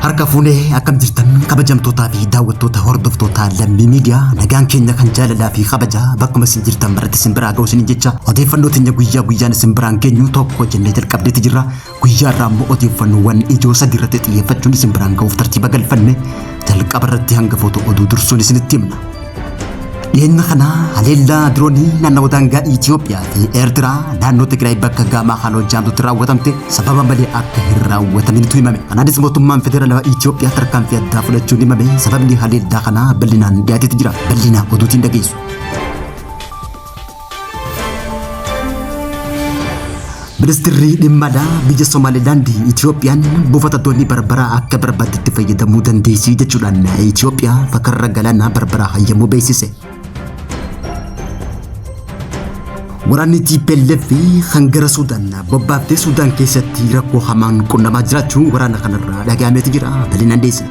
Harka fuunee akkam jirtan kabajamtootaa fi daawwattoota hordoftoota lammii miidiyaa nagaan keenya kan jaalalaa fi kabajaa bakkuma isin jirtan maratti isin biraa ga'u isin jecha odeeffannoo teenya guyyaa guyyaan isin biraan geenyu tokko jennee jalqabneeti jirra. Guyyaa irraa immoo odeeffannoowwan ijoo sadii irratti xiyyeeffachuun isin biraan ga'uuf tartiiba galfanne jalqaba irratti hangafoota oduu dursuun isinitti himna. Dhiyeenya kana haleellaa diroonii naannawa daangaa Itoophiyaa fi Eertiraa naannoo Tigraay bakka gaamaa haaloo jaamtutti raawwatamte sababa malee akka hin raawwataminitu himame. Kanaanis mootummaan federaalawaa Itoophiyaa tarkaanfii addaa fudhachuun himame sababni haleellaa kanaa bal'inaan dhiyaateeti jira. Bal'inaa oduutiin dhageessu. Ministirri dhimma alaa biyya Somaalilaand Itiyoophiyaan buufata doonii Barbaraa akka barbaaddetti fayyadamuu dandeessi jechuudhaan Itiyoophiyaa fakarra galaanaa Barbaraa hayyamuu beeksise. Waraanni TPLF kan gara Suudaan bobbaaftee Suudaan keessatti rakkoo hamaan qunnamaa jiraachuun waraana kanarraa dhagahameeti jira. Bal'inaan dhiyeessina.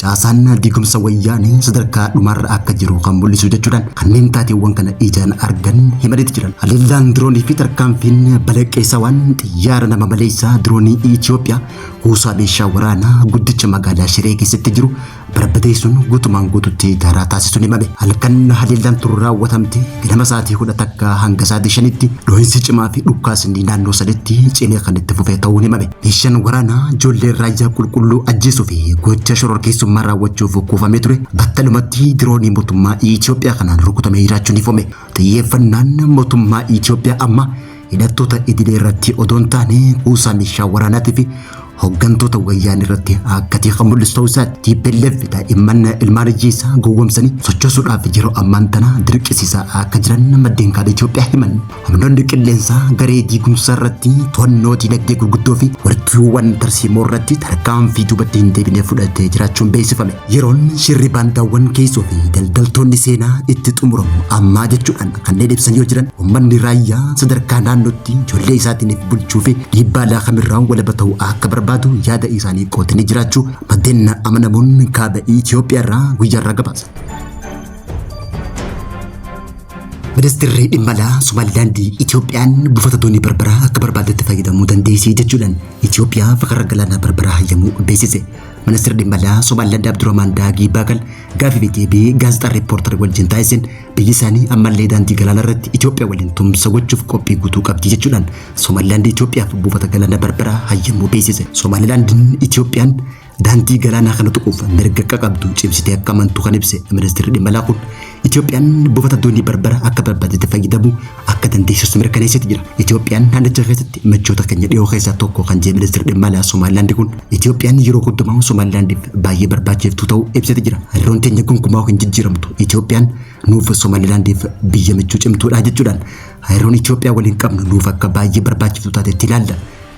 Caasaan diigumsa wayyaanee sadarkaa dhumaarra akka jiru kan mul'isu jechuudhaan kanneen taateewwan kana ijaan argan himaniiti jiran. Haleellaan diroonii fi tarkaanfiin balaqqeessawaan xiyyaara nama maleessaa diroonii Itoophiyaa kuusaa meeshaa waraanaa guddicha magaalaa Shiree keessatti jiru barbadeessuun guutumaan guututti daaraa taasisuun himame. Halkan haleellaan turu raawwatamte ganama sa'aatii kudha takka hanga sa'aatii shanitti dhohinsi cimaa fi dhukkaasni naannoo sanitti cimee kan itti fufee ta'uun himame. Meeshaan waraanaa ijoollee raayyaa qulqulluu ajjeesuu fi gocha shororkeessummaa raawwachuuf kuufamee ture battalumatti diroonii mootummaa Itoophiyaa kanaan rukutamee jiraachuun ifame. Xiyyeeffannaan mootummaa Itoophiyaa amma hidhattoota idilee irratti odoo hin taane kuusaa meeshaa waraanaatii fi hooggantoota wayyaan irratti akka ta'e kan mul'isu ta'uu isaati. TPLF daa'imman ilmaan hiyyeessaa gowwomsanii sochoosuudhaaf yeroo ammaan tana dirqisiisaa akka jiran maddeen kaaba Itoophiyaa himan. Humnoonni qilleensaa garee diigumsaa irratti to'annoo diinagdee gurguddoo fi warqiiwwan tarsiimoo irratti tarkaanfii duubatti hin deebine fudhatee jiraachuun beeksifame. Yeroon shirri baandaawwan keessoo fi daldaltoonni seenaa itti xumuramu ammaa jechuudhaan kanneen ibsan yoo jiran uummanni raayyaa sadarkaa naannootti ijoollee isaatiiniif bulchuu fi dhiibbaa laakamirraa walaba ta'uu akka barbaadu yaada isaanii qootanii jiraachuu maddeen amanamoon kaaba Itoophiyaa irraa guyyaarraa gabaasa. Ministeerri dhimma alaa Somaalilaandi Itoophiyaan buufata doonii barbaraa akka barbaadetti fayyadamuu dandeessi jechuudhaan Itoophiyaa fakarra galaanaa barbaraa hayyamuu beeksise. Ministeerri dhimma alaa Somaalilaandi Abdurrahmaan Daagii Baakal gaafii fi deebii gaazexaa reeppoortar wajjin taasiseen biyyi isaanii ammallee daandii galaanaa irratti Itoophiyaa waliin tumsa gochuuf qophii guutuu qabdi jechuudhaan Somaalilaandi Itoophiyaaf buufata galaanaa barbaraa hayyamuu beeksise. Somaalilaandiin Itoophiyaan Daandii galaanaa kana tuquuf mirga akka qabdu cimsitee akka amantu kan ibse ministeerri dhimma alaa kun Itoophiyaan buufata doonii barbara akka barbaadetti fayyadamu akka dandeessistu mirkaneessiti jira. Itoophiyaan naannicha keessatti michoota keenya dhiyoo keessaa tokko kan jedhe ministeerri dhimma alaa Somaalilaandi kun Itoophiyaan yeroo hundumaa Somaalilaandiif baay'ee barbaachiftuu ta'uu ibsiti jira. Hariiroon keenya gonkumaa hin jijjiiramtu. Itoophiyaan nuuf Somaalilaandiif biyya michuu cimtuudha jechuudhaan hariiroon Itoophiyaa waliin qabnu nuuf akka baay'ee barbaachiftuu taatetti ilaalla.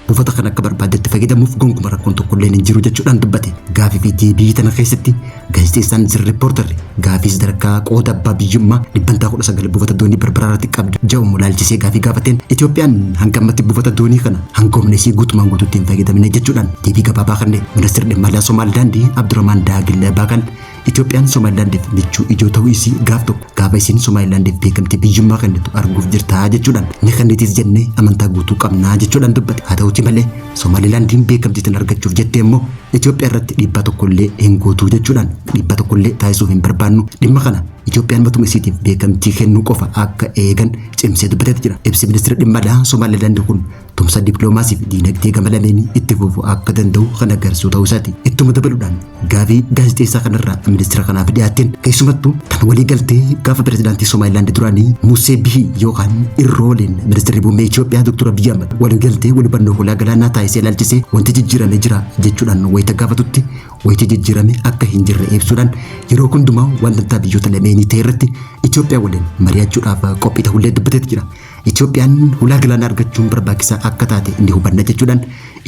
Buufata kan akka barbaaddetti fayyadamuuf gonkuma rakkoon tokkolleen hin jiru jechuudhaan dubbate. Gaafii fi deebii tana keessatti gaazexeessaan Zir Riippoortarri gaafii sadarkaa qooda abbaa biyyummaa dhibbantaa 19 buufata doonii Barbaraa irratti qabdu ja'umu laalchisee gaafii gaafateen Itoophiyaan hanga ammatti buufata doonii kana hanga humna isii guutumaan guutuutti hin fayyadamne jechuudhaan deebii gabaabaa kenne. Ministeerri dhimma alaa Somaalilaandii Abdurahmaan Daagil Baakan Itoophiyaan Somaalilaandiif michuu ijoo ta'uu isii gaaf tokko gaafa isiin Somaalilaandiif beekamtii biyyummaa kennitu arguuf jirtaa jechuudhaan ni kennitiis jennee amantaa guutuu qabnaa jechuudhaan dubbate. Haa ta'uutii malee Somaalilaandiin beekamtii tan argachuuf jettee immoo Itoophiyaa irratti dhiibbaa tokkollee hin gootuu jechuudhaan dhiibbaa tokkollee taasisuu hin barbaannu dhimma kana Itoophiyaan matuma isiitiif beekamtii kennuu qofa akka eegan cimsee dubbateeti jira. Ibsi ministeera dhimma alaa Somaalilaandi kun tumsa dippiloomaasii fi diinagdee gama lameenii itti fufuu akka danda'u kan agarsiisu ta'uu isaati. Ittuma dabaluudhaan gaafii gaazexeessaa kanarraa ministeera kanaaf dhiyaateen keessumattuu tan walii galtee gaafa pirezidaantii Somaayilaandi duraanii Musee Bihii yookaan Irrooleen ministeerri muummee Itoophiyaa Dr. Abiyyi Ahmad walii galtee wal hubannoo hulaa galaanaa taasisee ilaalchisee wanti jijjiirame jira jechuudhaan wayita gaafatutti wayita jijjiirame akka hin jirre ibsuudhaan yeroo hundumaa waan dantaa biyyoota lameenii ta'e irratti Itoophiyaa waliin mari'achuudhaaf qophii ta'ullee dubbateeti jira. Itoophiyaan hulaa galaanaa argachuun barbaachisaa akka taate ni hubanna jechuudhaan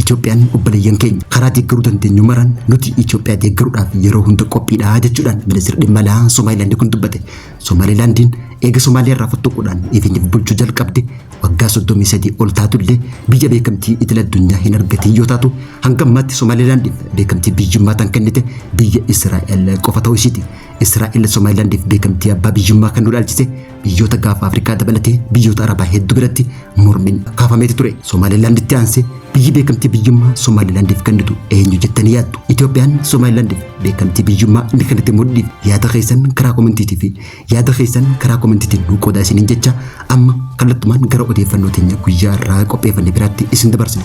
Itoophiyaan obboleeyyan keenya karaa deeggaruu dandeenyu maraan nuti Itoophiyaa deeggaruudhaaf yeroo hunda qophiidha jechuudhaan ministeerri dhimma alaa Somaalilaand kun dubbate. Somaalilaandiin eega Somaaliyaa irraa fottoquudhaan ifiniif bulchuu jalqabde waggaa 33 ol taatullee biyya beekamtii idil addunyaa hin argatiin yoo taatu hanga ammaatti Somaalilaandiif beekamtii biyyummaa tan kennite biyya Israa'el qofa ta'uu isiiti. Israa'el Somaalilaandiif beekamtii abbaa biyyummaa kan nu dhaalchise Biyyoota gaafa Afrikaa dabalatee biyyoota Arabaa hedduu biratti mormiin kaafameeti ture. Somaalilaanditti aansee biyyi beekamtii biyyummaa Somaalilaandiif kennitu eenyu jettanii yaaddu? Itoophiyaan Somaalilaandiif beekamtii biyyummaa ni kennite mudhiif yaada keessan karaa komentiitii fi yaada keessan karaa komentiitiin nuu qoodaa isiniin jecha amma kallattumaan gara odeeffannoo teenya guyyaa irraa qopheeffanne biraatti isin dabarsina.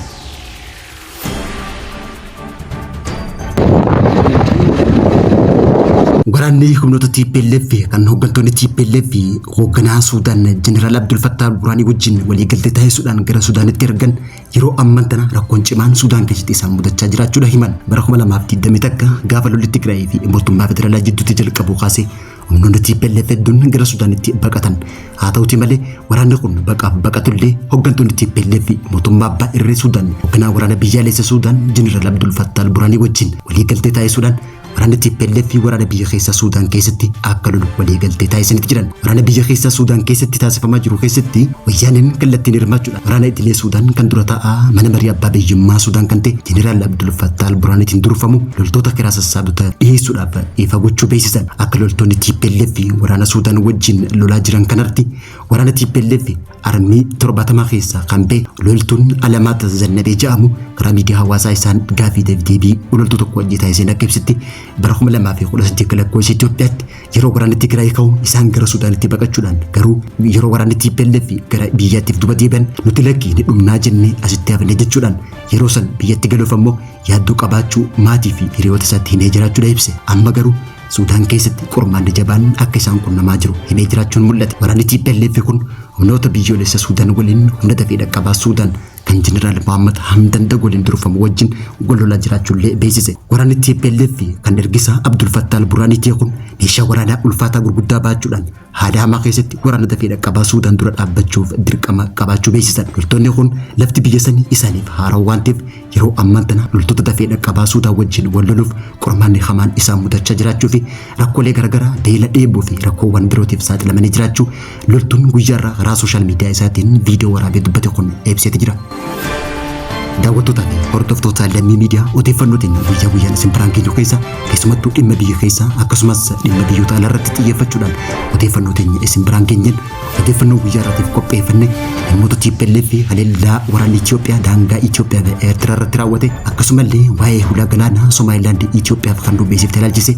Waraanni humnoota TPLF kan hooggantoonni TPLF hoogganaa Suudaan Jeneraal Abdul Fattah Burhaanii wajjin waliigaltee taasisuudhaan gara Suudaanitti ergan yeroo amman tana rakkoon cimaan Suudaan keessatti isaan mudachaa jiraachuudha himan. Bara 2021 gaafa lolli Tigraayii fi mootummaa federaalaa jidduutti jalqabu kaasee Humnoonni TPLF hedduun gara Sudaanitti baqatan. Haa ta'uti malee waraanni kun baqaaf baqatullee hooggantoonni TPLF mootummaa abbaa irree Sudaan hoogganaa waraana biyyaalessa Sudaan Jeneraal Abdul Fattah al-Burhaanii wajjin waliigaltee taasisuudhaan waraanni TPLF waraana biyya keessaa Sudaan keessatti akka lolu waliigaltee taasisanitti jiran. Waraana biyya keessaa Sudaan keessatti taasifamaa jiru keessatti Wayyaaneen kallattiin hirmaachuudhaan waraana idilee Suudaan kan dura taa'aa mana marii abbaa biyyummaa Suudaan kan ta'e Jeneraal Abdul Fattah al-Burhaanitiin durfamu loltoota kiraa sassaabota dhiyeessuudhaaf dhiifa gochuu beeksisan. Akka loltoonni TPLF waraana Suudaan wajjin lolaa jiran kanarratti waraana TPLF armii torbaatamaa keessaa kan ba'e loltuun Alamaata Zannabee jedhamu karaa miidiyaa hawaasaa isaan gaafii deebii loltuu tokko wajjin taasiseen akka ibsitti bara 2018 lakkoofsa Itoophiyaatti Yeroo waraanni Tigraay ka'u isaan gara Sudaanitti baqachuudhaan garuu yeroo waraanni TPLF gara biyyaattiif duba deebi'an nuti lakkii ni dhumnaa jennee asitti hafne jechuudhaan yeroo san biyyatti galuuf ammoo yaaddoo qabaachuu maatii fi hiriyoota isaatti himee jiraachuudha ibse. Amma garuu Sudaan keessatti qormaanni jabaan akka isaan qunnamaa jiru himee jiraachuun mul'ate. Waraanni TPLF kun humnoota biyyoolessa Sudaan waliin humna dafee dhaqqabaa Sudaan kan Jeneraal Mahammad Hamdan Dagoliin durfamu wajjin wal lolaa jiraachuullee beeksise. Waraanni TPLF fi kan ergisaa Abdul Fattah al-Burhaanii ta'e kun meeshaa waraanaa ulfaataa gurguddaa baachuudhaan haala hamaa keessatti waraana dafee dhaqqabaa Suudaan dura dhaabbachuuf dirqama qabaachuu beeksisan. Loltoonni kun lafti biyya sanii isaaniif haarawa waan ta'eef yeroo ammaan tana loltoota dafee dhaqqabaa Suudaan wajjin wal loluuf qormaanni hamaan isaan mudachaa jiraachuu fi rakkoolee garaagaraa beela dheebuu fi rakkoowwan birootiif saaxilamanii jiraachuu Loltuun guyyaarraa karaa sooshaal miidiyaa isaatiin viidiyoo waraabee dubbate kun ibseeti jira. Daawwattootaa fi hordoftoota lammii miidiyaa odeeffannoo keenya guyyaa guyyaan isin biraan geenyu keessa keessumattuu dhimma biyya keessaa akkasumas dhimma biyyoota alaa irratti xiyyeeffachuudhaan odeeffannoo keenya isin biraan geenyeen odeeffannoo guyyaa irraatiif qopheeffanne dhimmoota TPLF fi haleellaa waraanni Itoophiyaa daangaa Itoophiyaa fi Eertiraa irratti raawwate akkasumallee waa'ee hulaa galaanaa Somaalilaand Itoophiyaaf kan dhubbeessifte ilaalchise